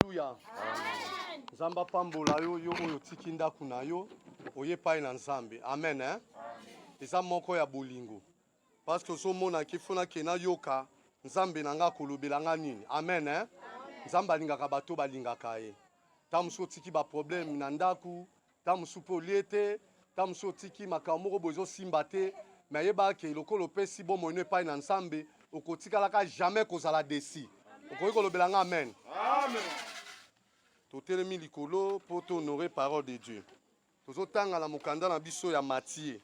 Aleluya. Nzambe apambola yo, yo oyo otiki ndako na yo oye epai na Nzambe. Amen, hein? Eza moko ya bolingo parce que ozomona ke fona ke nayoka Nzambe na nga akolobela nga nini. Amen, hein? Nzambe alingaka bato balingaka ye. Ntango mosusu otiki baproblème na ndako, Ntango mosusu mpe olie te, ntango mosusu otiki makambo moko boye ezosimba te, me ayebaka ke lokola opesi bomoi no epai na Nzambe, okotikalaka jamais kozala desi. Okoki kolobela nga amen? Amen. Totelemi likolo mpo to honore parole de Dieu. Tozotanga na mokanda na biso ya Matie.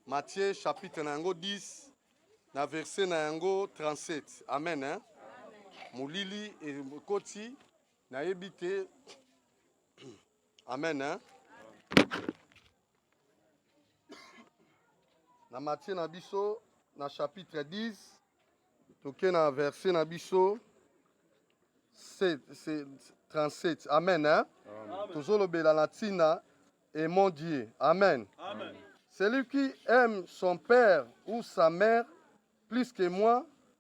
Matie chapitre na yango 10 na verset na yango 37. Amen. Hein? Molili ekoti nayebi te Amen hein? Na matie na biso na chapitre 10 toke na verset na biso 37 amen hein? tozolobela na ntina et mon Dieu amen, amen. celui qui aime son père ou sa mère plus que moi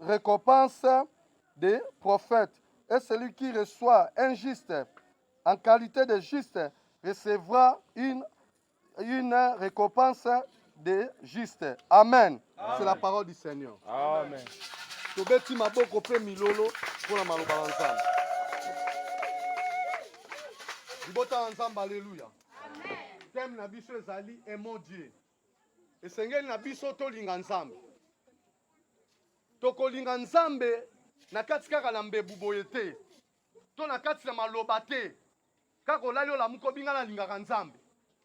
récompense des prophètes. Et celui qui reçoit un juste en qualité de juste recevra une, une récompense de juste. Amen. C'est la parole du Seigneur. Amen. tobeti maboko mpe milolo mpo na maloba na nzambe libota na nzambe aleluya teme na biso ezali emo dieu Esengeli na biso tolinga Nzambe. Tokolinga Nzambe na kati kaka na mbebu boye te, to na kati na maloba te, kaka olali olamuki obinga nalingaka Nzambe.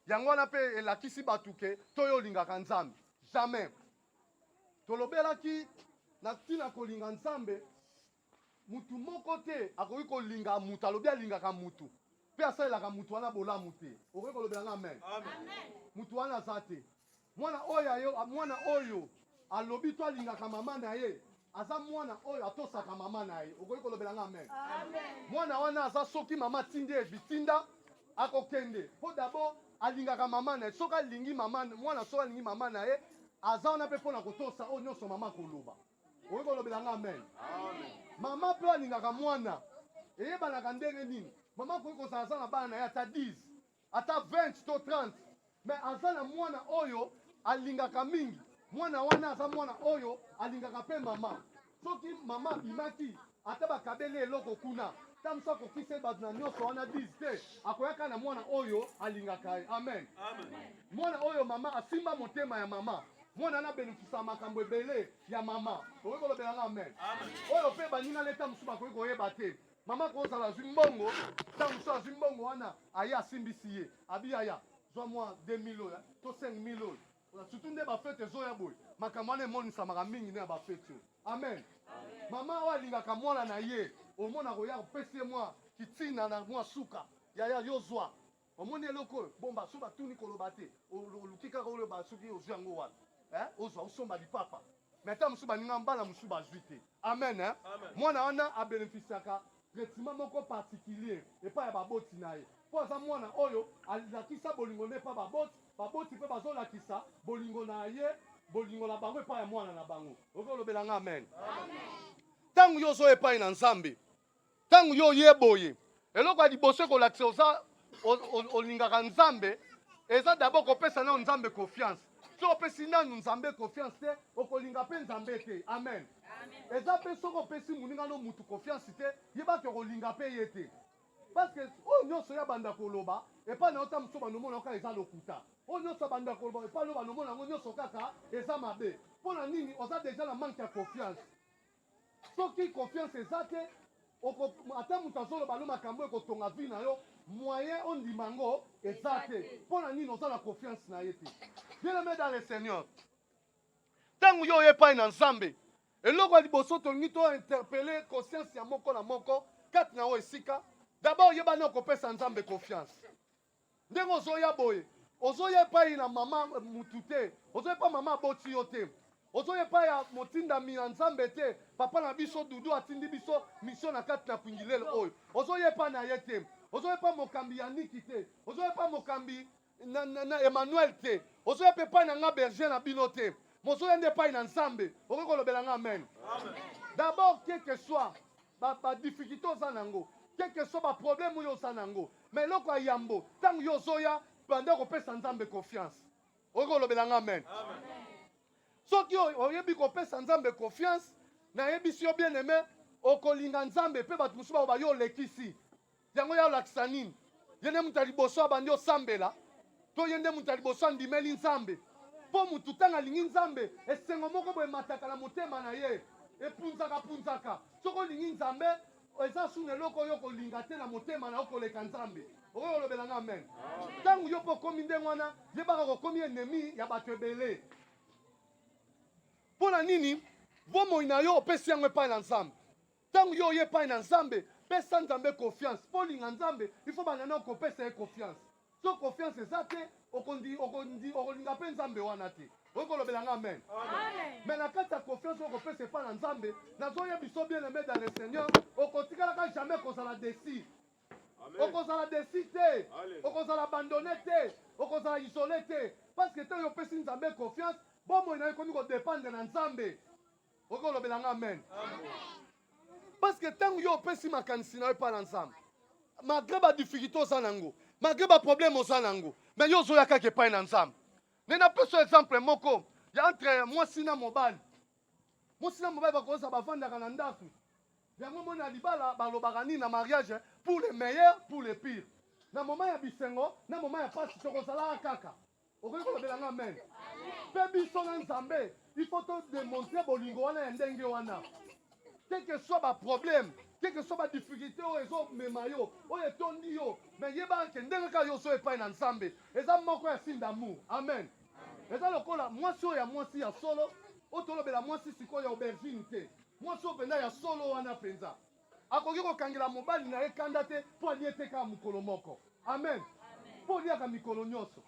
Yango wana mpe elakisi bato ke toyo olingaka Nzambe. Jamais. Tolobelaki na ntina kolinga Nzambe Moto moko te akoki kolinga moto alobi alingaka moto mpe asalelaka moto wana bolamu te. Okoki kolobela nga amen? Moto wana aza te. Mwana oyo ayo, mwana oyo alobi to alingaka mama na ye aza mwana oyo atosaka mama na ye. Okoki kolobela nga amen? Mwana wana aza soki mama atindi ye bitinda akokende mpo dabord alingaka mama na ye. Soki alingi mama, mwana soki alingi mama na ye aza wana mpe mpo na kotosa oyo nyonso mama akoloba. okoki kolobela nga amen mama mpe alingaka mwana eyebanaka ndenge nini mama akoki kozala aza na bana na ye ata 10 ata 20 to 30 me aza na mwana oyo alingaka mingi mwana wana aza mwana oyo alingaka mpe mama soki mama abimaki Ata bakabeli eloko kuna, ta mosu akokiseli bato na nyonso wana 10 te, akoyaka na mwana oyo alingaka ye. Amen, amen. Mwana oyo mama asimba motema ya mama mwana na benefisa makambo ebele ya mama. Okoki kolobela nga amen? Oyo mpe baninga leta mosusu bakoki koyeba te mama kozala azwi mbongo, ntango mosusu azwi mbongo wana aye asimbisi ye abiyaya zwa mwa 2000 oyo to 5000 oyo Surtout nde ba fete ezoya boye, makambo wana emonisamaka mingi nde na ba fete oyo. Amen. Mama oyo alingaka mwana na ye, omona koya kopesi ye mwa kitina na mwa suka, yaya yo zwa omoni eloko oyo bomba so batuni koloba te oluki kaka oloba soki ozwi yango wapi eh? ozwa osomba lipapa me ata mosusu baninga mbala mosusu bazwi te amen eh? mwana wana abenefisiaka traitement moko particulier epai ya baboti na ye mpo aza mwana oyo alakisa bolingo nde epai baboti, baboti mpe bazolakisa bolingo na ye bolingo na bango epai ya mwana na bango. Okoki olobela nga amen? Ntango yo ozoya epai na Nzambe, ntango yo oye boye, eloko ya liboso ekolakisa oza olingaka nzambe eza d'abord kopesa nao nzambe confiance soki opesi nanu nzambe confiance te okolinga mpe nzambe te amen eza mpe soki opesi moninga no motu confiance te yebaki okolinga mpe ye te parce que oyo nyonso ya banda koloba epai na yo ta mosusu banomona yo kaka eza lokuta oyo nyonso abanda koloba epai na yo banomona yango nyonso kaka eza mabe mpo na nini oza deja na manke ya confiance Soki confiance eza te oko ata mutu azoloba no makambu ekotonga vie na yo moyen ondima yango eza te pona nini oza na confiance na ye te bien aime dans le seigneur ntango yo oye epai na nzambe eloko ya liboso tolingi to interpele conscience ya moko na moko kati na yo esika dabord yebani okopesa nzambe confiance ndenge ozoya boye ozoya epai na mama mutu te ozoya epai mama aboti yo te ozoya epai ya motindami ya nzambe te papa na biso dudu atindi biso misio na kati na kwingilele oyo ozoya epai na ye te ozoya epai mokambi ya niki te ozoya epai mokambi na, na, na emmanuel te ozoya mpe epai na nga berger na bino te mozoya nde epai na nzambe okoki kolobela nga amen, amen. d'abord quelque soit badifficulté ba oza na yango quelque soit baproblème oyo oza na yango Mais eloko ya yambo, tango yo ozoya, banda kopesa Nzambe confiance. Okoki kolobela nga amen? Amen. Soki oyebi kopesa Nzambe confiance, nayebisi yo bien aime, okolinga Nzambe mpe bato mosusu bakoba yo olekisi. Yango ya olakisa nini? Ye nde moto ya liboso abandi osambela, to ye nde moto ya liboso andimeli Nzambe? Mpo moto ntango alingi Nzambe, esengo moko boye emataka na motema na ye, epunzaka punzaka. Soki olingi Nzambe, eza suna eloko oyo okolinga te na motema na yo koleka nzambe okoki kolobela nga amen ntango yo mpe okomi ndenge wana yebaka kokomi enemi ya bato ebele mpo na nini bomoi na yo opesi yango epai na nzambe ntango yo oye epai na nzambe pesa nzambe confiance mpo olinga nzambe ifo banda na okopesa ye confiance Soki confiance eza te, okolinga mpe Nzambe wana te. Oyo kolobela nga amen. Mais na kati ya confiance oyo kopesa epa na Nzambe, nazoye biso bien aimé dans le Seigneur, okotikalaka jamais kozala desi. Okozala desi te, okozala abandonne te, okozala isole te, parce que tango opesi Nzambe confiance, bomoi na yo ekomi kodependre na Nzambe. Oko lobela nga amen. Parce que tangu yo opesi makanisi na yo epa na Nzambe. Malgré ba difficultés oza nango, malgré ba problèmes oza nango, mais yo ozoya kaka epai na Nzambe. Ne na pesi exemple moko ya entre mwasi na mobali. Mwasi na mobali bakoza bavandaka na ndako. Yango moni na libala balobaka nini na mariage eh? pour le meilleur, pour le pire. Na moment ya bisengo, na moment ya pasi tokozalaka kaka. okoki kolobela nga amen mpe biso na nzambe ifo todemontre bolingo wana ya ndenge wana quelque soit baproblème quelque soit badifficulté oyo ezomema yo oyo etondi yo me yebaka ke ndenge kaka yo ozo epai na nzambe eza moko ya signe d'amour amen eza lokola mwasi oyo ya mwasi ya solo oyo tolobela mwasi sikoyo ya aubergine te mwasi oyo mpenza ya solo wana mpenza Akoki kokangela mobali na ye kanda te mpo alie te kaka mokolo moko. Amen. Mpo oliaka mikolo nyonso,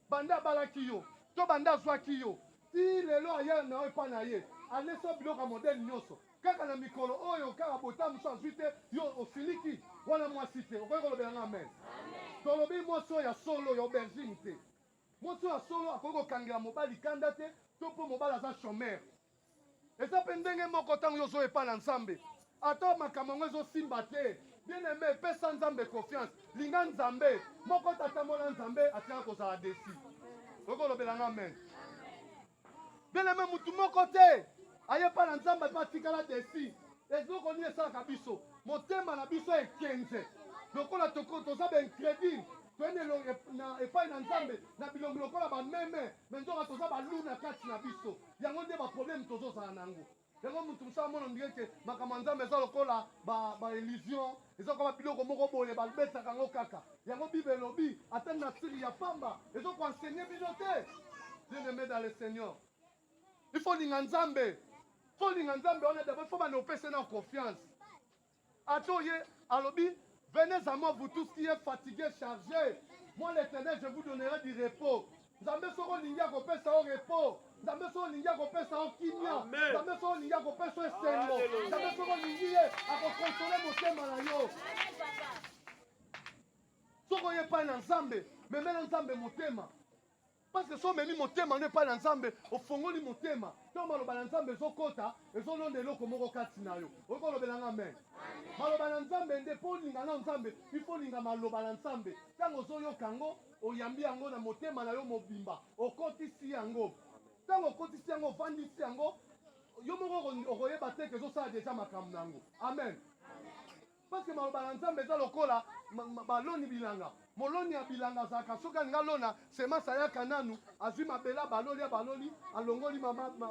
banda abalaki yo to banda azwaki yo tii lelo aya na yo epai na ye, alesi yo biloko ya modele nyonso kaka na mikolo oyo. Kaka botà mosusu azwi te, yo osiliki. Wana mwasi te. Okoki kolobela nga amen? Tolobi mwasi oyo ya solo, ya aubergine te. Mwasi oyo ya solo akoki kokangela mobali kanda te to mpo mobali aza chomeur. Eza pe ndenge moko tango yo ozo epa na Nzambe ata makambo yango ezo simba te bien aime pesa Nzambe confiance linga Nzambe moko tata mona Nzambe atika kozala desi oyoki olobela nga amen bien aime mutu moko te aye pa na Nzambe pe atikala desi eloko nini esalaka biso motema na biso ekenze lokola toza ba incredule toyende epai na Nzambe na bilongi lokola bameme me nzoka toza baluna kati na biso Yango nde ba problème tozo zala na yango. Yango mutu musa amona ndire ke makambo ya Nzambe eza lokola ba ba illusion, eza lokola biloko moko boye ba betaka yango kaka. Yango Bible elobi ata nature ya pamba ezo ko enseigner bino te. Bien aimé dans le Seigneur. Il faut linga Nzambe. Faut linga Nzambe wana d'abord faut bana opesa na confiance. Ato ye alobi venez à moi vous tous qui est fatigue charge moi l'Eternel je vous donnerai du repos Nzambe soki olingi akopesa yo repos Nzambe soki olingi akopesa yo kimia Nzambe soki olingi akopesa yo esengo Nzambe soki olingi ye akokonsole motema na yo soki oye epai na Nzambe memela Nzambe motema Parce que so omemi motema no epai na Nzambe, ofongoli motema, ntango maloba na Nzambe ezokota, ezolonda eloko moko kati na yo. Okoki kolobela nga amen? Maloba na Nzambe nde, mpo olinga nao Nzambe, il faut olinga maloba na Nzambe. Ntango ozoyoka yango, oyambi yango na motema na yo mobimba, okotisi yango. Ntango okotisi yango, ofandisi yango, yo moko okoyeba te ke ezosala deja makambo na yango. Amen. Parce que maloba na Nzambe eza lokola baloni bilanga. Moloni ya bilanga azalaka soki alingi alona semence ayaka nanu azwi mabele abaloli abaloli alongoli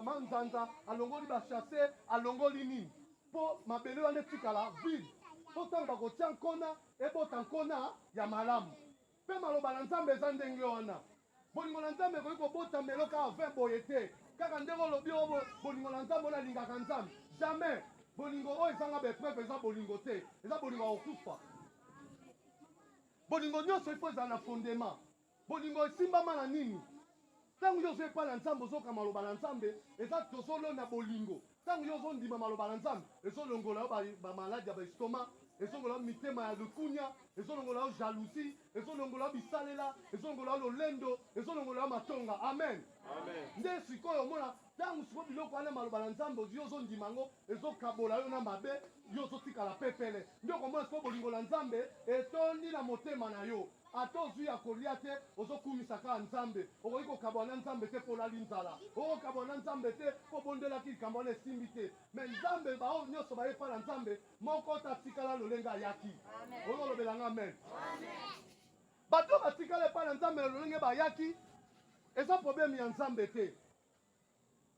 manzanza alongoli bachasse alongoli nini mpo mabele wana etikala vide mpo ntango bakotia nkona ebota nkona ya malamu. Mpe maloba na Nzambe eza ndenge wana. Bolingo na Nzambe ekoki kobota melo kaka vin boye te. Kaka ndenge olobi o oh, bolingo na Nzambe, onalingaka Nzambe. Jamais. Bolingo oyo ezanga ba epreuve eza bolingo te. Eza bolingo ya kokufa. Bolingo nyonso ifo ezala na fondement. Bolingo esimbama na nini? Tango yo ozo epa na nzambe ozoka maloba na nzambe eza tozo lona bolingo tango yo ozo ndima maloba na nzambe ezo longola yo ba maladi ya ba estoma ezo longola yo mitema ya lukunia ezo longola yo jalousie ezo longola yo bisalela ezo longola yo lolendo ezo longola yo matonga amen amen nde sikoyo omona tango sikoyo biloko wana maloba na nzambe yo ozo ndima yango ezo kabola yo na mabe yo ozo tikala pepele nde okomona sikoyo bolingo na nzambe etondi na motema na yo Ata ozui ya kolia te ozo kumisa kaka nzambe okoki kokabwana na nzambe te po olali nzala oko kabwana na nzambe te po obondelaki likambo wana esimbi te mais nzambe ba oyo nioso baye epa na nzambe moko te atikala lolenge ayaki ozo lobela nga amen bato batikala epa na nzambe na lolenge bayaki eza probleme ya nzambe te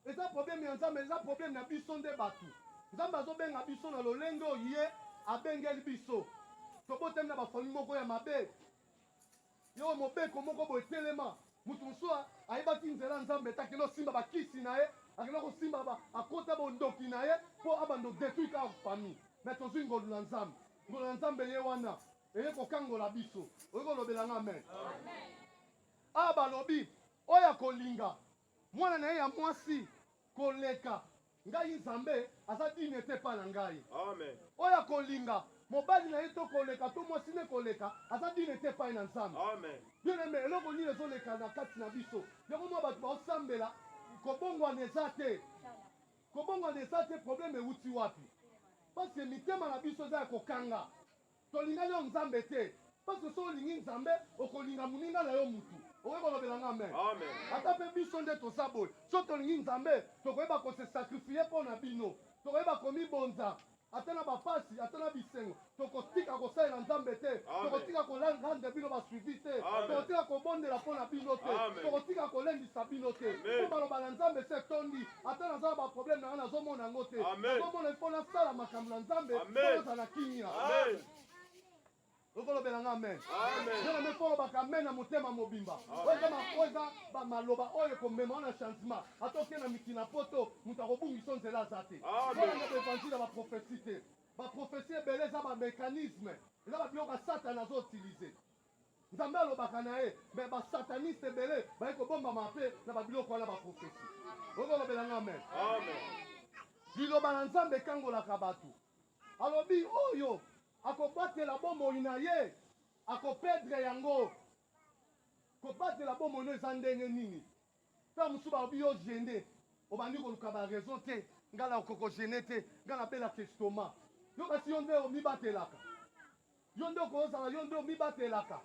Eza problème ya Nzambe, eza problème na biso nde batu. Nzambe azobenga biso na lolenge oyo ye abengeli biso. Tobotami na ba famille moko ya mabe. Yo mobeko moko boye telema. Mutu mosusu ayebaki nzela Nzambe te, akenda kosimba ba kisi na ye, akenda kosimba ba akota bondoki na ye po abanda kodetruire kaka famille. Mais tozui ngolu na Nzambe. Ngolu na Nzambe eye wana eye kokangola biso. Oye kolobela nga amen? Amen. Awa balobi oyo akolinga mwana na ye ya mwasi koleka ngai Nzambe aza digne te epai na ngai. Oyo akolinga mobali na ye to koleka to mwasi ne koleka aza digne te epai na Nzambe. Bien aime, eloko nini ezoleka na kati na biso? Yango mwa bato baosambela kobongwana eza te. Kobongwana eza te, probleme ewuti wapi? Parce que mitema na biso eza ya kokanga. Tolingani yo nzambe te parce que soki olingi nzambe okolinga muninga nayo mutu okoki kolobela nga amen ata pe biso nde toza boye soki tolingi nzambe tokoyeba ko se sacrifier pona bino tokoyeba komibonza ata na bapasi ata na bisengo tokotika kosalela nzambe te tokotika kolandre bino ba suivi te tokotika kobondela pona bino te tokotika kolendisa bino te po maloba na nzambe se tondi ata naza na baproblème na nga nazomona yango te nazomona mpo nasala makambo na nzambe mpo nazala na kimia okolobela nga amen nzela mpe kolobaka amen na motema mobimba oyo eza makoza bamaloba oyo ekomema wana changement ata oke na mikili na poto moto akobungisa nzela aza te kolanda baevanzile ya baprofesi te baprofesi ebele eza bamécanisme eza babiloko ya satana azoutilize Nzambe alobaka na ye me basataniste ebele baye kobombama mpe na babiloko wana baprofesi okolobela nga amen liloba na nzambe ekangolaka bato alobi oyo akobatela bomoi na ye akopedre yango kobatela bomoi no eza ndenge nini ntango mosusu balobi yo gene obandi koluka baraison te ngai na okoko gene te ngai nabelaka estoma yo basi yo nde omibatelaka Yo nde okozala yo nde omibatelaka.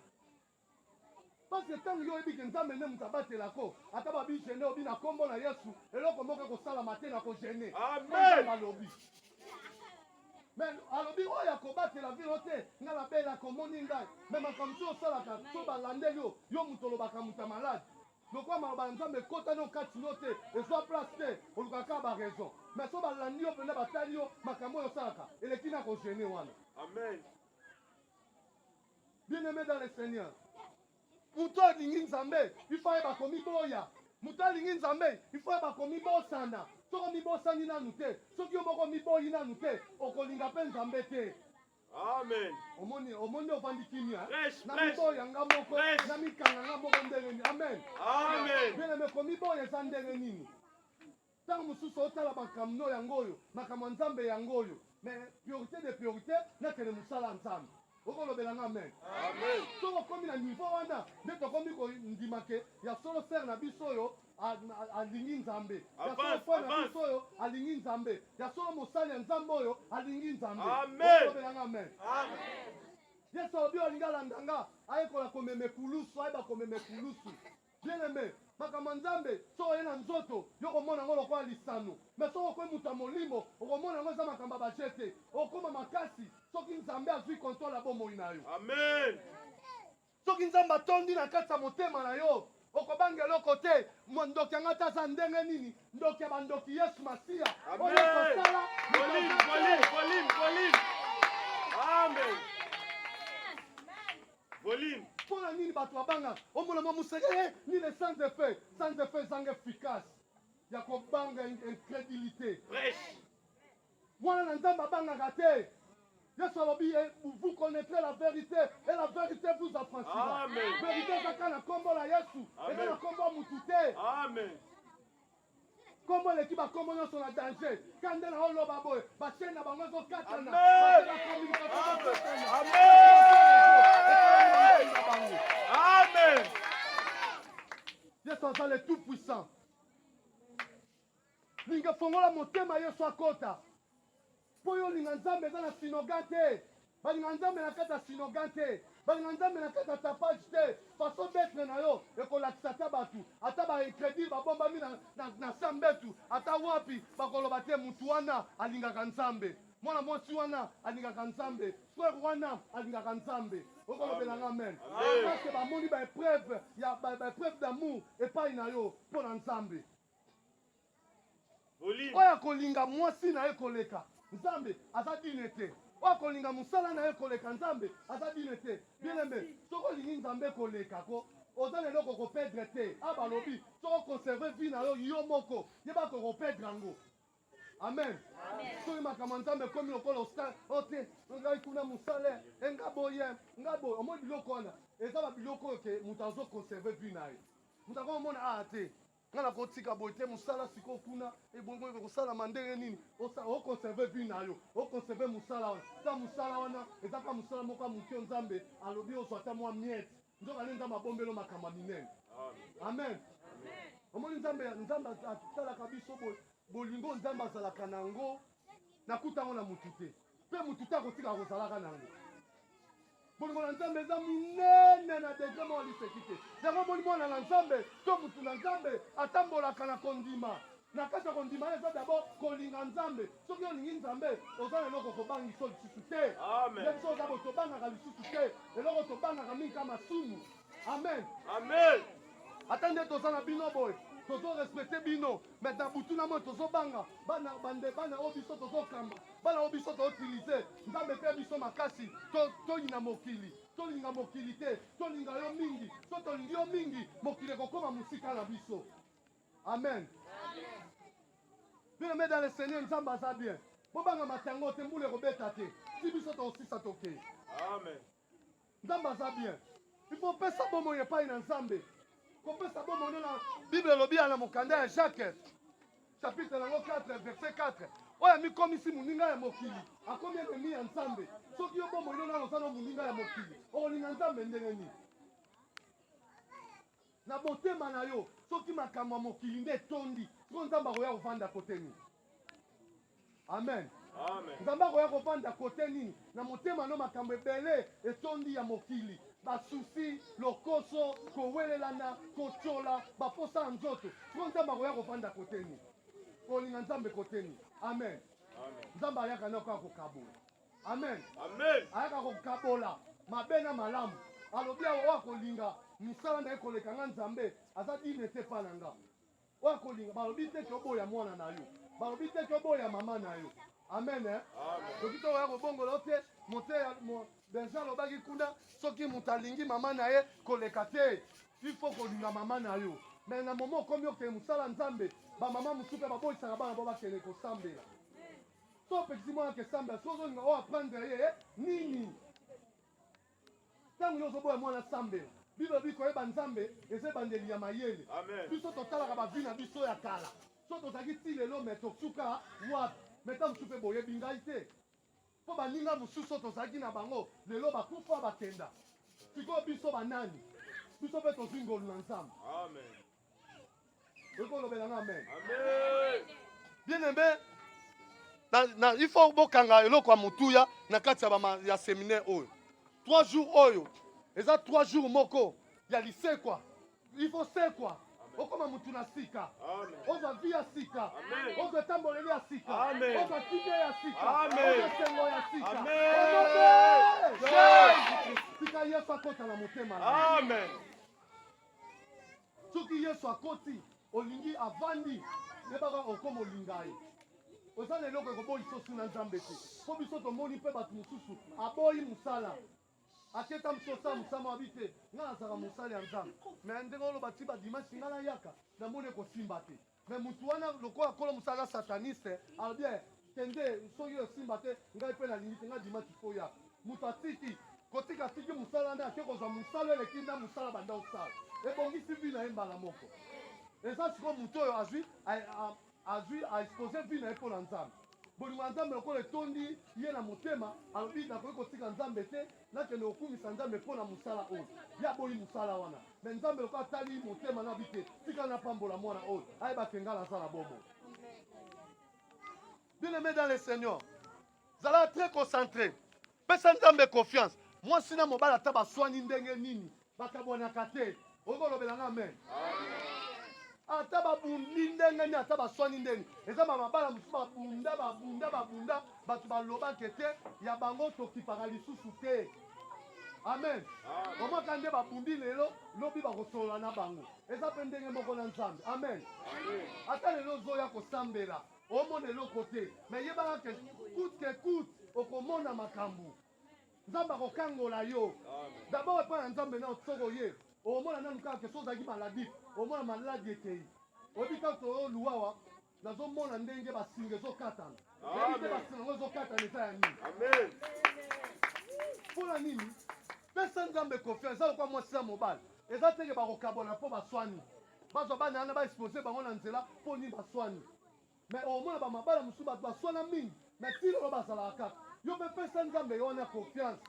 Parce que ntango yo oyebi ke Nzambe nde moto abatelako, ata ba bi gene yo bi na nkombo na Yesu, eloko moko ekosalama te na ko gene. Amen. Alobi. Mais alobi oyo ya kobatela vino te, ngai nabelaka omoni ngai. Mais makambo mosusu osalaka, soki balandeli yo, yo moto olobaka moto ya malade. Lokola maloba ya Nzambe ekota no kati no te, ezua place te, olukaka kaka ba raison. Mais soki balandi yo penza batali yo makambo oyo osalaka, eleki na ko gene wana. Amen. Bien aime dans le Seigneur. Moto alingi Nzambe, il faut ayeba komiboya. Moto alingi Nzambe, il faut ayeba komibosana. Soki omibosani nanu te, soki yo moko omiboyi nanu te, okolinga mpe Nzambe te. Amen. Omoni omoni nde ofandi kimia namiboya nga moko namikanga nga moko ndenge nini amen bieleme komiboya eza ndenge nini ntango mosusu otala makambo yango oyo makambo ya nzambe yango oyo mais priorité de priorité nakende mosala ya nzambe okolobela nga amen soki okomi na niveau wana nde tokomi kondima ke ya solo sere na biso oyo alingi nzambe yasoaso oyo alingi nzambe ya solo mosali ya nzambe oyo alingi nzambe obelanga amen yesu alobi olingi alanda nga ayekola komema ekulusu ayeba komema ekulusu bien aime makambo ya nzambe soki oye na nzoto yo okomona yango lokola lisano me soki okoi moto ya molimo okomona yango eza makambo ya baje te okoma makasi soki nzambe azwi kontrole ya bomoi na yo amen Soki Nzambe atondi na kati ya motema na yo, okobanga eloko te. Mwa ndoki yanga ata aza ndenge nini, ndoki ya bandoki Yesu Masiya oyo ekosala Volume. Mpo na nini bato babanga omona mwa moseke eh, nini sans effet sans effet ezanga efficace ya kobanga incrédulité Mwana na Nzambe abangaka te. Yesu alobi eh, vous connaîtrez la vérité et la vérité vous affranchira. Vérité eza kaka na kombo la Yesu, eza na kombo mutu te. Amen. Kombo eleki ba kombo nyonso na danger. Kande na oloba boye, ba chaîne na bango ezo katana. Amen. Yesu aza le tout puissant. Linga fongola motema Yesu akota. Mpo yo linga Nzambe eza na sinoga te. Balinga Nzambe na kati ya sinoga te. Balinga Nzambe na kati ya tapage te. Façon d'être na yo ekolakisa ata bato ata ba incredule babombami na, na, na sa mbetu ata wapi bakoloba te motu wana alingaka Nzambe. Mwana mwasi wana alingaka Nzambe. Frère wana alingaka Nzambe. okolobela nga amen parce bamoni baepreuve ya baepreuve d'amour epai na yo mpo na Nzambe. Oyo akolinga mwasi na ye koleka Nzambe aza digne te. Oyo akolinga musala na ye koleka Nzambe aza digne te. Bien aime, soki olingi Nzambe koleka ko oza na eloko oko perdre te. Ah balobi soki o conserver vie na yo yo moko yeba ke oko perdre yango. amen soki makambo ya nzambe ekomi lokola osala ote ngai kuna mosale enga boye nga boye omoi biloko wana eza babiloko oyo ke moto azo conserve vie na ye moto ako omona aa ah, te nga nakotika boye te mosala sikoyo kuna ebongo eh, ekosalama ndenge nini okonserve vie na yo okonserve mosala wana ta mosala wana eza ka mosala moko ya moke nzambe alobi ozwa ta mwa miete Nzokande Nzambe abombelo makambo ya minene. Amen. Omoni Nzambe, Nzambe atalaka biso boye, bolingo Nzambe azalaka na yango, nakuta yango na mutu te, mpe mutu te akotika kozalaka na yango. Bolingo na Nzambe eza minene na degre moko liseki te. Yango omoni mwana na Nzambe to mutu na Nzambe atambolaka na kondima Na kati ya kondima eza d'abord kolinga Nzambe. Soki olingi Nzambe, oza na eloko kobangi so lisusu te. Amen. Yesu oza bo tobangaka lisusu te. Eloko tobangaka mingi kama sumu. Amen. Amen. Ata nde toza na bino boye, tozo respecter bino, mais na butu na moi tozo banga bana bande bana oyo biso tozo kamba, bana oyo biso tozo utiliser. Nzambe pe biso makasi, to toyina mokili, tolinga mokili te, tolinga yo mingi. So tolingi yo mingi, mokili ekokoma mosika na biso. amen bien dans le seigneur nzambe aza bien bobanga matango te mbula ekobeta te ti biso tokosisa tokei amen nzambe aza bien ifo opesa bomoi epai na nzambe kopesa bomoi nde na bible elobi ya na mokanda ya jacques chapitre yango 4 verset 4 oyo amikomisi moninga ya mokili akomi enemi ya nzambe soki yo bomoi nde nano oza na moninga ya mokili okolinga nzambe ndenge nini Na motema na yo soki makambo ya mokili nde etondi sikoyo nzambe akoya kovanda kote nini? Amen. Amen. Nzambe akoya kovanda kote nini? Na motema no makambo ebele etondi ya mokili, basusi, lokoso, kowelelana, kotyola, baposa ya nzoto. Siko Nzambe akoya kovanda kote nini? Kolinga Nzambe kote nini? Amen. Amen. Nzambe ayaka na koya kokabola amen ayaka kokabola mabe na malamu alobi awa oyo akolinga misala na ye koleka nga nzambe aza dine te epa na nga oyo akolinga balobi te ke oboya mwana na yo balobi te ke oboya mama na yo amen eh? soki to oya kobongola yo te moteya benja alobaki kuna soki moto alingi mama na ye koleka te il faut kolinga mama na yo me na momo okomi okende mosala nzambe bamama mosusu mpe baboyisaka bana bo bakende kosambela To pekisi mwana ke samba soki ozolinga o apprendre ye eh, nini? Ntango yo ozoboya mwana sambela biblia bi koyeba nzambe eza ebandeli ya mayele biso totalaka bavi na biso ya kala so tozalaki ti lelo me tosuka wapi me ntango mosusu mpe boyebi ngai te mpo baninga mosusu tozalaki na bango lelo bakufa bakenda sikoyo biso banani biso mpe tozwi ngolu na nzambe okolobela nga amen bien aimé na, na, il faut bokanga eloko ya motuya na kati ya seminaire oyo trois jours oyo eza trois jours moko ya lisekwa il faut sekwa okoma mutu na sika ozwa vi ya sika ozwa etamboleli ya sika ozwa kimia ya sika ozwa esengo ya sika sika yesu akota na motema na soki yesu akoti olingi avandi yebaka okoma olinga ye oza na eloko ekoboyisa osu na nzambe te mpo biso tomoni mpe bato mosusu aboyi mosala aketa msosa mosama wabi te ngai nazalaka mosali ya nzambe me ndenge oloba ti badimansi ngai nayaka namoni ekosimba te Mais mutu wana lokola kolo musala aza sataniste alobi eh, kende soki yo esimba te ngai mpe nalingi te ngai dimaki koya moto atiki kotika atiki mosala nde ake kozwa mosala eleki nda mosala banda osala ebongisi vi na ye mbala moko eza sikoyo moto oyo azwi azwi aexpose vi na ye mpo na nzambe bolingo ya nzambe lokola etondi ye na motema alobi nakoki kotika nzambe te nakende kokumisa nzambe mpo na mosala oyo ye aboyi mosala wana me nzambe loko atali motema na bite tika napambola mwana oyo ayeba ke ngai naza na bomo bien aimé dans le seigneur zala très concentré pesa nzambe confiance mwasi na mobali ata baswani ndenge nini Bakabwanaka te. Okoki kolobela nga amen? Ata babundi ndenge nini, ata baswani ndenge, eza ba mabala mosusu babunda babunda babunda, bato balobake te ya bango tokipaka lisusu te. Amen. Omaka nde babundi lelo, lobi bakosolola na bango. Eza mpe ndenge moko na Nzambe. Amen. Ata lelo ozoya kosambela omona eloko te, me yebaka ke coute que coute okomona makambo. nzambe akokangola yo dabord epai ya nzambe nao soko oye omona nanu kaka ke so ozalaki maladif omona maladi ekei oyebi ntango toluwawa nazomona ndenge basinga ezokatana oyebi te basinga yango ezokatana eza ya nini mpona nini pesa nzambe kofi eza lokwa mwasi ya mobali eza teke bakokabola mpo baswani bazwa bana yana baexpose bango na nzela mpo nini baswani Mais omona ba mabala mususu batu baswana mingi mais ti lelo bazalaka kaka. Yo pe pesa Nzambe yo wana confiance.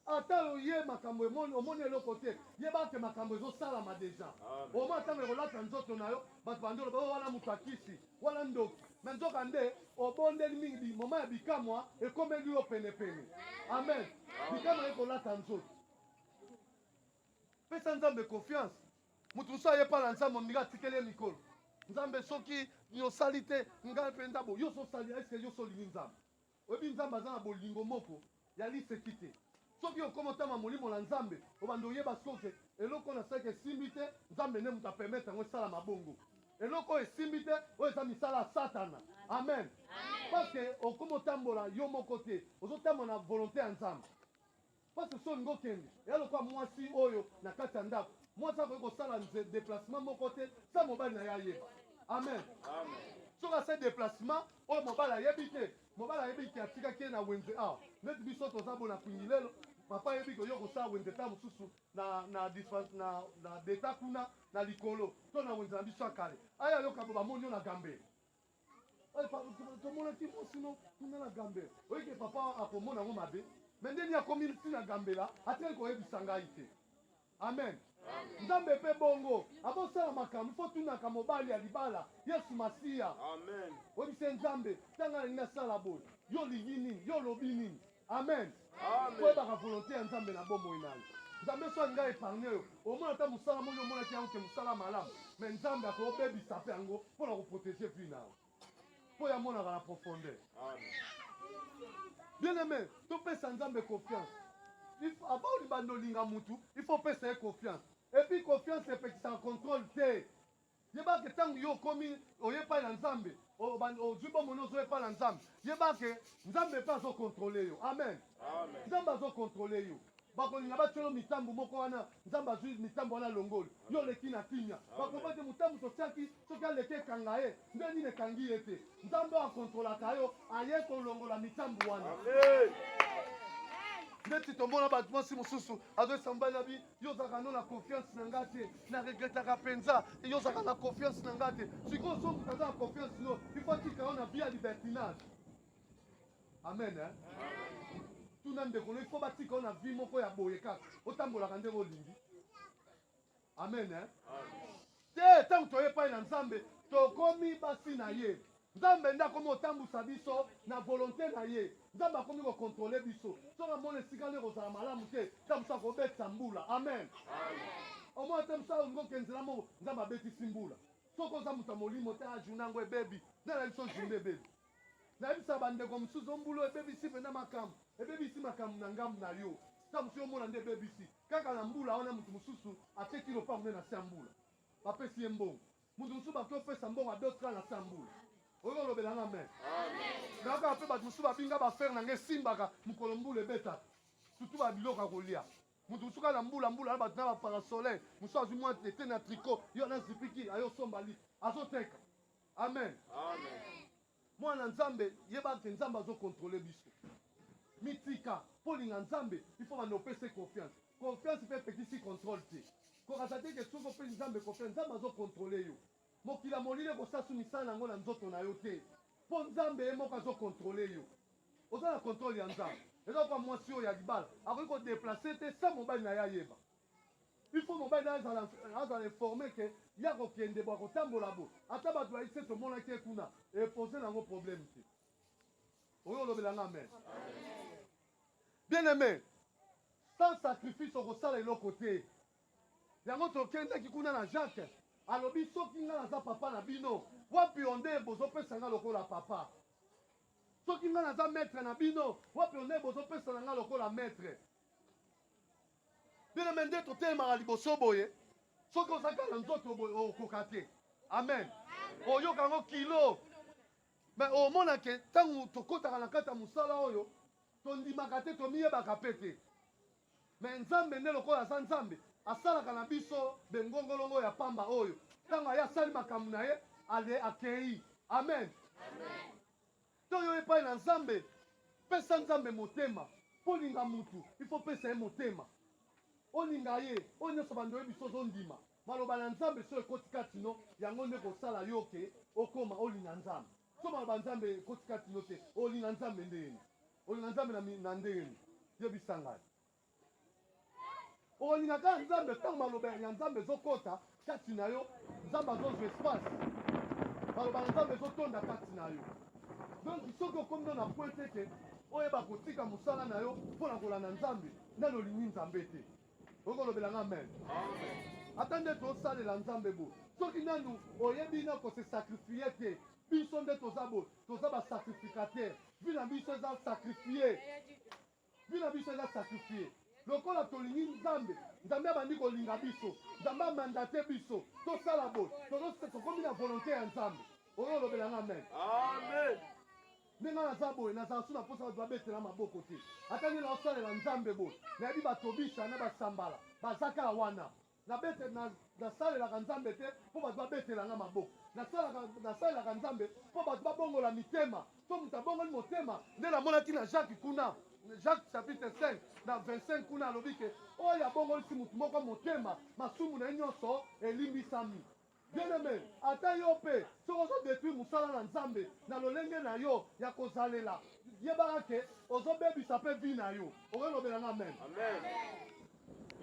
Ata oye makambo emoni omoni eloko te yeba ke makambo ezosalama deja. Omona ntango ekolata nzoto na yo bato bandi oloba oh, wana moto akisi wana ndoki me nzoka nde obondeli mingi moma ya bikamwa ekomeli yo penepene. Amen, bikamwa ekolata nzoto. Pesa Nzambe confiance. moto mosusu aye epai na nzambe ondinga atikeli ye mikolo nzambe soki yosali te ngai mpenza bo yo sosali eske yo solingi nzambe oyebi nzambe aza na bolingo moko ya liseki te soki okoma otama molimo na nzambe obanda oyeba soke eloko oyo nasalaki esimbi te nzambe nde moto apermetre yango esala mabongo eloko oyo esimbi te oyo eza misala ya satana amen parceke okoma otambola yo moko te ozotambola na volonté ya nzambe Pasteur Son ngo kende ya lokola mwasi oyo na kati ya ndako. Mwasi akoki kosala nze deplacement moko te sa mobali na ye ayeba. Amen. Soki ase deplacement oyo mobali ayebi te, mobali ayebi ke atikaki ye na wenze awa. Neti biso toza bona kwingilelo, papa ayebi ke yo kosala wenze ta mosusu na na dispense na na deta kuna na likolo to na wenze na biso ya kale. Aya yoka bo bamoni yo na gambe. Oye papa tomona ti mo sino kuna na gambe oye ke papa akomona ngo mabe me ndeni akomi ti na gambela atali koyebisa ngai te amen nzambe mpe bongo abosala makambo fo tunaka mobali ya libala yesu masiya oyebise nzambe ntanga nalingi nasala boye yo olingi nini yo olobi nini Amen. Amen. Koyebaka volonté ya Nzambe na bomoi na yo. Nzambe soki alinga epargne yo, omona ata mosala moko omonaki yango ke mosala malamu, mais Nzambe akobebisa mpe yango mpo na koprotege vie na yo, mpo yamonaka na profondeur. Bien aimé, topesa Nzambe confiance. Avant olibanda olinga mutu, il faut opesa ye confiance. Et puis confiance epekisaka contrôle te. Yeba ke tangu yo okomi oye epai na Nzambe, ozwi bomoi na ozo epai na Nzambe, yeba ke Nzambe mpe azo controle yo. Amen, amen. Nzambe azo controle yo bakolinga batyolo mitambo moko wana nzambe azwi mitambo wana alongoli yo oleki na kimya bakoba te motambo totyaki soki aleki ekanga ye nde nini ekangi ye te nzambe oyo akontrolaka yo aye kolongola mitambo wana ndeti tomona bato mwasi mosusu azoyesa mobali na bi yo ozalaka no na confiance na nga te na regretaka mpenza yo ozalaka na confiance na nga te sikoyo soki moto aza na confiance no ifo atika yo na vie ya libertinage amen eh? tuna ndeko no ifo batika yo na vie moko ya boye kaka otambolaka ndenge olingi amen eh? te ntango toye epai na nzambe tokomi basi na ye Nzambe nde akomi kotambusa biso na volonte na ye. Nzambe akomi ko controler biso. Soki amoni esika nde ekozala malamu te, ta mosu akobetisa mbula. Amen. Omona ta mosu alingi okende nzela moko, Nzambe abetisi mbula. Soki oza moto ya molimo te, ah journée yango ebebi. Nani ayebi so journée ebebi? Nayebisa bandeko mosusu o mbula ebebisi mpenza makambo, ebebisi makambo na ngambo na yo. Ta mosu yo omona nde ebebisi. Kaka na mbula wana moto mosusu ateki lopango nde na se ya mbula. Bapesi ye mbongo. Mutu mususu bakoki opesa mbongo à d'autres la tambour. Oyo olobela nga amen. Nayoka pe bato mususu babinga ba frère na nga esimbaka mukolo mbula ebeta. Surtout ba biloko ya kolia. Mutu mususu kaka na mbula mbula na bato na ba parasolaire, mususu azwi mwa tete na tricot, yo na zipiki ayo somba lit. Azoteka. Amen. Amen. Mwana nzambe yeba ke nzambe azo controle biso mitika po linga nzambe il faut banda opese confiance confiance pe epekisi controle te kokasa te ke soki opesi nzambe confiance nzambe azo controle yo mokili ya molili ekosasu misala na yango na nzoto na yo te po nzambe ye moko azo controle yo oza na controle ya nzambe eza kwa mwasi oyo ya libala akoki ko deplace te sans mobali na ye ayeba Il faut mobali na azala azala informe que ye akokende bo akotambola bo ata bato bayebi se tomonaki ye kuna epose na yango problème te oyo olobela nga amen bien aime sans sacrifice okosala eloko te yango tokendaki kuna na jacques alobi soki ngai naza papa na bino wapi onde bozopesa ngai lokola papa soki ngai naza maître na bino wapi onde bozopesa na ngai lokola maître Bino me nde totelemaka liboso boye, soki oza kaka na nzoto boye okoka te. Amen, oyoka yango kilo me omona ke ntango tokotaka na kati ya mosala oyo tondimaka te, tomiyebaka mpe te. Me Nzambe nde lokola aza Nzambe, asalaka na biso bengongolongo ya pamba oyo ntango aye asali makambo na ye ale akei. Amen, amen. To yo epai na Nzambe. Pesa Nzambe motema. Po olinga mutu, il faut opesa ye motema. Olinga ye. Oyo nionso banda oyebi se ozo ndima. Maloba na Nzambe soki ekoti kati no, yango nde eko sala yo ke okoma olinga Nzambe. Soki maloba ya Nzambe ekoti kati no te, olinga Nzambe ndenge nini? Olinga Nzambe na ndenge nini? Yebisa ngai. Okolinga kaka Nzambe ntango maloba ya Nzambe ezokota kati na yo, Nzambe azozwa espace, maloba na Nzambe ezotonda kati na yo. Donc soki okomi no na point te ke oyeba kotika mosala na yo mpo na kolanda Nzambe, nani olingi Nzambe te? Okolobela nga amen. Ata nde tosalela Nzambe bo, soki nanu oyebi na ko se sacrifier te, biso nde toza bo, toza ba sacrificateur, vie na biso eza sacrifier Vie na biso eza sacrifier lokola tolingi nzambe nzambe abandi kolinga biso nzambe a mandate biso tosala boye tozo tokomi na volonte ya nzambe oyo olobela nga amen amen nde nga naza boye nazala su na mposa bato babetela maboko te ata nde naosalela nzambe boye nayebi batobisa na basambala baza kaka wana Nasalelaka Nzambe te mpo bato babetela ngai maboko. Nasalelaka Nzambe mpo bato babongola mitema. Soki moto abongoli motema, nde namonaki na Jacques kuna, Jacques chapitre 5 na 25 kuna alobi ke oyo abongolisi moto moko motema, masumu na ye nyonso elimbisami. Bien aime, ata yo pe soki ozo detruire musala na Nzambe na lolenge na yo ya kozalela, yebaka ke ozo bebisa pe vie na yo. Okoki lobela nga amen? Amen.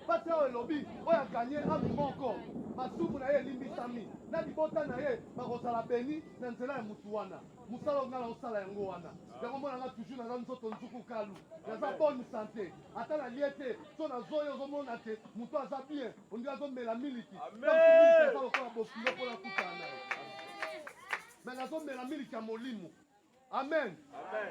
Pasi awa elobi oyo a gagne ame moko masumu na ye elimbisami na libota na ye bakozala beni na nzela ya mutu wana. Musala oyo nga naosala yango wana yango mona nga toujours naza nzoto nzuku kalu naza bonne sante ata na lie te so nazoya ozomona te mutu aza bien Olingi azomela miliki eza lokola bokilo mpo nakutana na ye me nazomela miliki ya molimo amen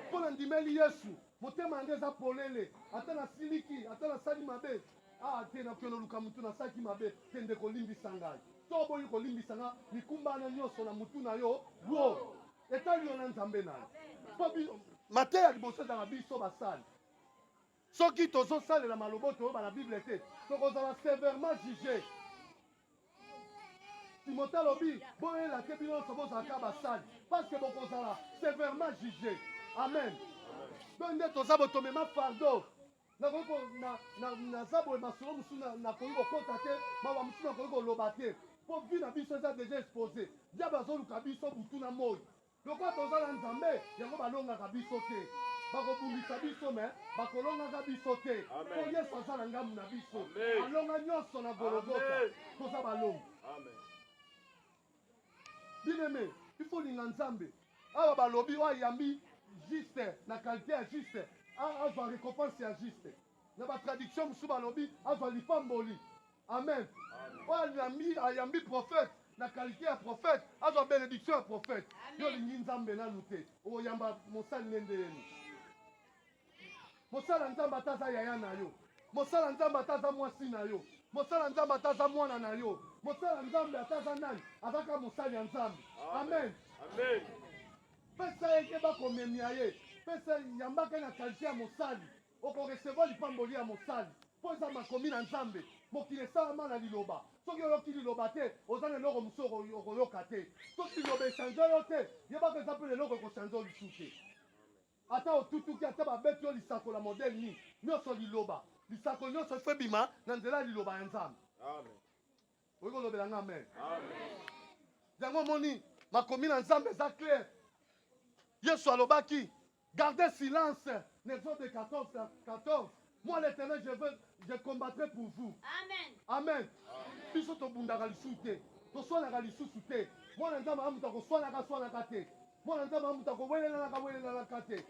mpo na ndimeli yesu motema yango eza polele ata nasiliki ata nasali mabe ah te nakokende oluka motu nasalaki mabe te ndeko olimbisa ngai to oboyi kolimbisa ngai mikumba wana nyonso na motu na yo wo etali yo na nzambe na yo mpo mateya liboso ezala biso basali Soki tozosalela maloba toyoba na Bible te, tokozala severement juge. Timote alobi boyela te bino nyonso bozalaka basali, parce que bokozala severement juge. Amen. Donc nde toza botomema fardeau nakoki naza boye masolo mosusu nakoki kokota te mawa mosusu nakoki koloba te mpo vi na biso eza deja expose diable azoluka biso butu na moi Lokola toza na nzambe yango balongaka biso te bakobundisa biso mais bakolongaka biso te po yesu aza na ngambu na biso alonga nionso na gologota toza balongi bineme il faut linga nzambe awa balobi oyo ayambi juste na kalite ya juste azwa recompense ya juste na batraduction mosusu balobi azwa lipamboli Amen oyo ayambi prophète na qualité ya prophète azwa benediction ya prophète yo olingi nzambe nanu te okoyamba mosali nde nde yeni mosala nzambe ata aza yaya na yo mosala nzambe ata aza mwasi na yo mosala nzambe ata aza mwana na yo mosala nzambe ata aza nani azaka mosali ya nzambe amen pesa ye keba komemia ye pesa yambaka na kalite ya mosali Oko recevoir lipamboli ya mosali mpo eza makomi na Nzambe. Mokili esalama na liloba. Soki oyoki liloba te, oza na eloko mosusu okoyoka te. Soki liloba e changer yo te, yeba que eza mpe na eloko eko changer yo lisusu te. Ata otutuki, ata babeti yo lisakola ya modèle nini, nionso liloba. Lisakoli nionso il faut ebima na nzela ya liloba ya Nzambe. Amen. okoki kolobela nga amen yango omoni makomi na nzambe eza claire yesu alobaki garde silence na exode 14 14 moi l'éternel je veux je combattrai pour vous amen amen biso tobundaka lisusu te toswanaka lisusu te mwana nzambe amutu akoswanaka swanaka te mwana nzambe amutu akowelenanaka welenanaka te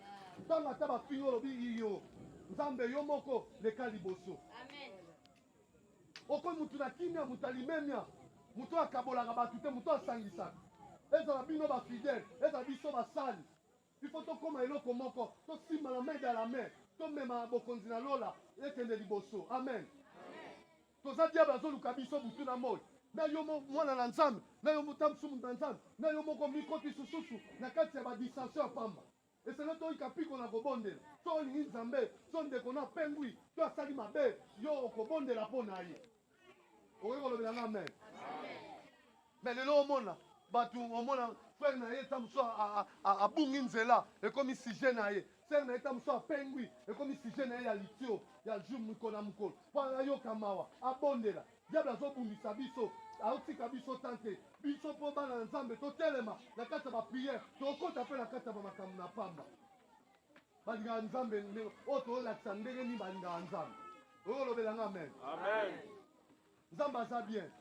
ntango ata bafingi olobi iyo nzambe yo moko leka liboso amen Okomi moto na kimia, moto ya limemia, moto oyo akabolaka bato te, moto oyo asangisaka. Ezala bino bafidele, ezala biso basali, ifo tokoma eloko moko, tosimbana main dans la main, tomema bokonzi na lola ekende liboso. Amen. Toza diable azoluka biso butu na moi na yo mwana na nzambe na yo motambusu moto na nzambe na yo moko mikoti sususu na kati ya badistration ya pamba Esengeli toyika mpiko na kobondela. Soki olingi Nzambe, soki ndeko na yo apengwi to asali mabe, yo okobondela mpo na ye. Okoki kolobela nga amen? Mais lelo omona bato, omona frère na ye ta mosusu abungi nzela, ekomi sujet na ye. Frère na ye ta mosusu apengwi, ekomi sujet na ye ya litio ya jour mokolo na mokolo, mpo ayoka mawa, abondela. Diable azo bundisa biso aotika biso temps te biso mpo bana na nzambe totelema na kati ya bapriere tokokota mpe na kati ya bamakambo na pamba balingaka nzambe ndenge oyo tolakisa ndenge nini balingaka nzambe oyo olobela nga amen nzambe aza bien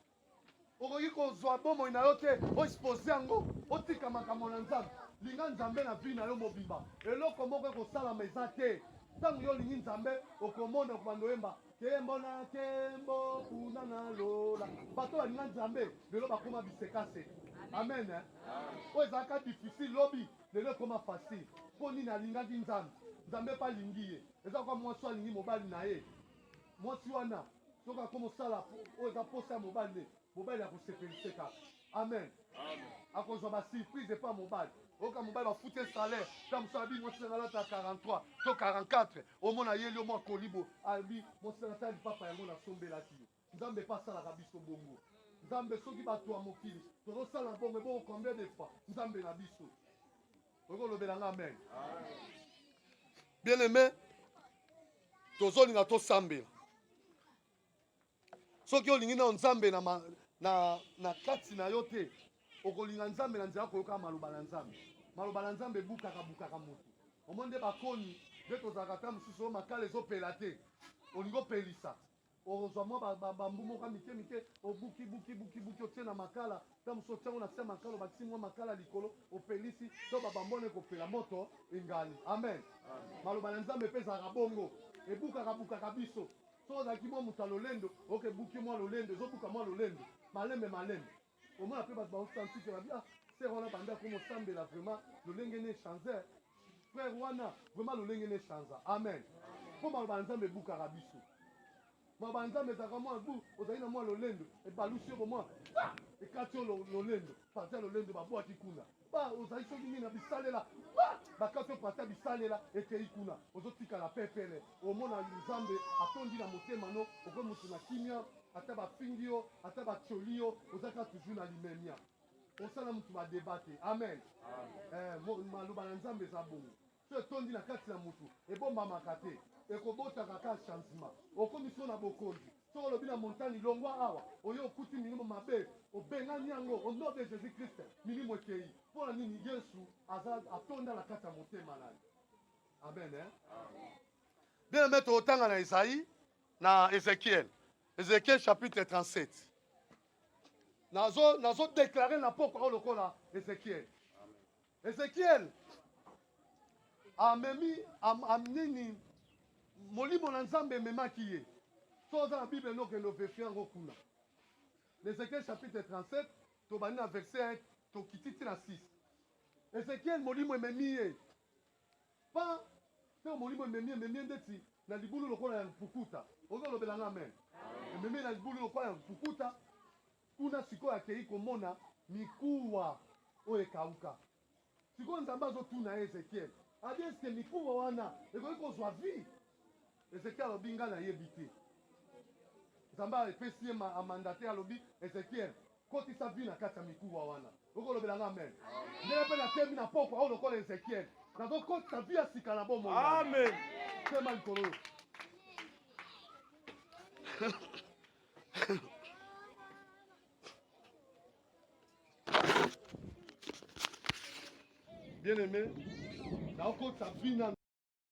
okoki kozwa bomoi na yo te oexpose yango otika makambo na nzambe linga nzambe na vi na yo mobimba eloko moko ekosalama eza te ntango yo olingi nzambe okomona okobanda oyemba Kembo na kembo kuna na lola. Bato balinga Nzambe lelo bakoma bisekase. Amen. Eh? Oyo ezalaka difficile lobi lelo ekoma facile. Mpo nini alingaki Nzambe? Nzambe mpe alingi ye. Eza lokola mwasi alingi mobali na ye. Mwasi wana soki akoma osala oyo eza mposa ya mobali ne Mobali ya kosepelise kaka. Amen. Akozwa ba surprise epa mobali. Oyoka mobali bafuti ye salaire, ta mosusu abi mwasi na ngai alata 43 to 44, omona ayeli yo mwa kolibo, abi mwasi na ngai ta lipapa yango nasombelaki yo. Nzambe epa asalaka biso bongo. Nzambe soki bato ya mokili tozosala bongo ebongo combien de fois Nzambe na biso. Okoki kolobela ngai amen. Bien aimé, tozolinga tosambela soki olingi nao nzambe na, ma, na, na kati na yo te okolinga nzambe na nzela koyoka maloba na nzambe maloba na nzambe ebukaka bukaka motu omoni nde bakoni nde tozalaka ta mosusu oyo makala ezopela te olingi opelisa ozwa mwa bambu moko mike mike obuki buki buki buki otie na makala ta mosusu otiango na se ya makala obakisi mwa makala likolo opelisi to babambona ekopela moto engali amen, amen. maloba na nzambe mpe ezalaka bongo ebukaka bukaka biso Soki ozalaki mwa moto ya lolendo, ok ebuki mwa lolendo, ezo buka mwa lolendo malembe malembe. Omona pe batu bao s'entique ba bi ah sœur wana banda komo sambela vraiment lolenge ne chanzer, frère wana vraiment lolenge ne chanza. Amen. Po maloba ya Nzambe ebukaka biso. Maloba ya Nzambe ezalaka mwa bu, ozali na mwa lolendo, ebalusi yo bomwa pa! ekati yo lolendo, parti ya lolendo ba bwaki kuna. Ba ozali soki nini na bisalela ba bakati yo pata bisalela ekei kuna ozotikala pepele omona nzambe atondi na motema no oko moto na kimia ata bafingi yo ata batioli yo ozaka toujours na limemia osala moto badeba te amen, amen. Eh, maloba na nzambe eza bongo Soki etondi na kati ya mutu, ebombamaka te, ekobotaka kaka changement. Okomi solo na bokonzi, soki olobi na montani longwa awa, oye okuti milimo mabe, obengani yango au nom de Jesus Christ, milimo ekeyi. Pona nini? Yesu aza atonda na kati ya motema na yo. Amen hein? Amen. Bien aimé, tokotanga na Esaïe na Ezekiel. Ezekiel chapitre 37. nazo nazo déclarer na pokwa oyo lokola Ezekiel Ezekiel amemi am, am nini molimo na Nzambe ememaki ye. So oza na Bible no kendo verifie yango kuna. Ezekiel chapitre 37 tobandi na verset tokiti ti na 6. Ezekiel molimo ememi ye pa ntango molimo ememi ememi ndeti na libulu lokola ya mpukuta. Ozo lobela nga amen. Ememi na libulu lokola ya mpukuta Kuna sikoyo akeyi komona mikuwa oyo ekawuka. Sikoyo Nzambe azo tuna ye, Ezekiel adi est ce que mikuwa wana ekoki kozwa vie? Ezekiel alobi nga na yebi te. Nzambe a epesi ye ma, a mandate alobi Ezekiel kotisa vie na kati ya mikuwa wana. Oko lobela nga amen? Ndenge pe na temi na pokwa oyo lokola Ezekiel. Nazo kotisa vie ya sika na bomoi na nga. Amen. Sema likolo oyo. bien aimé naokotisa vina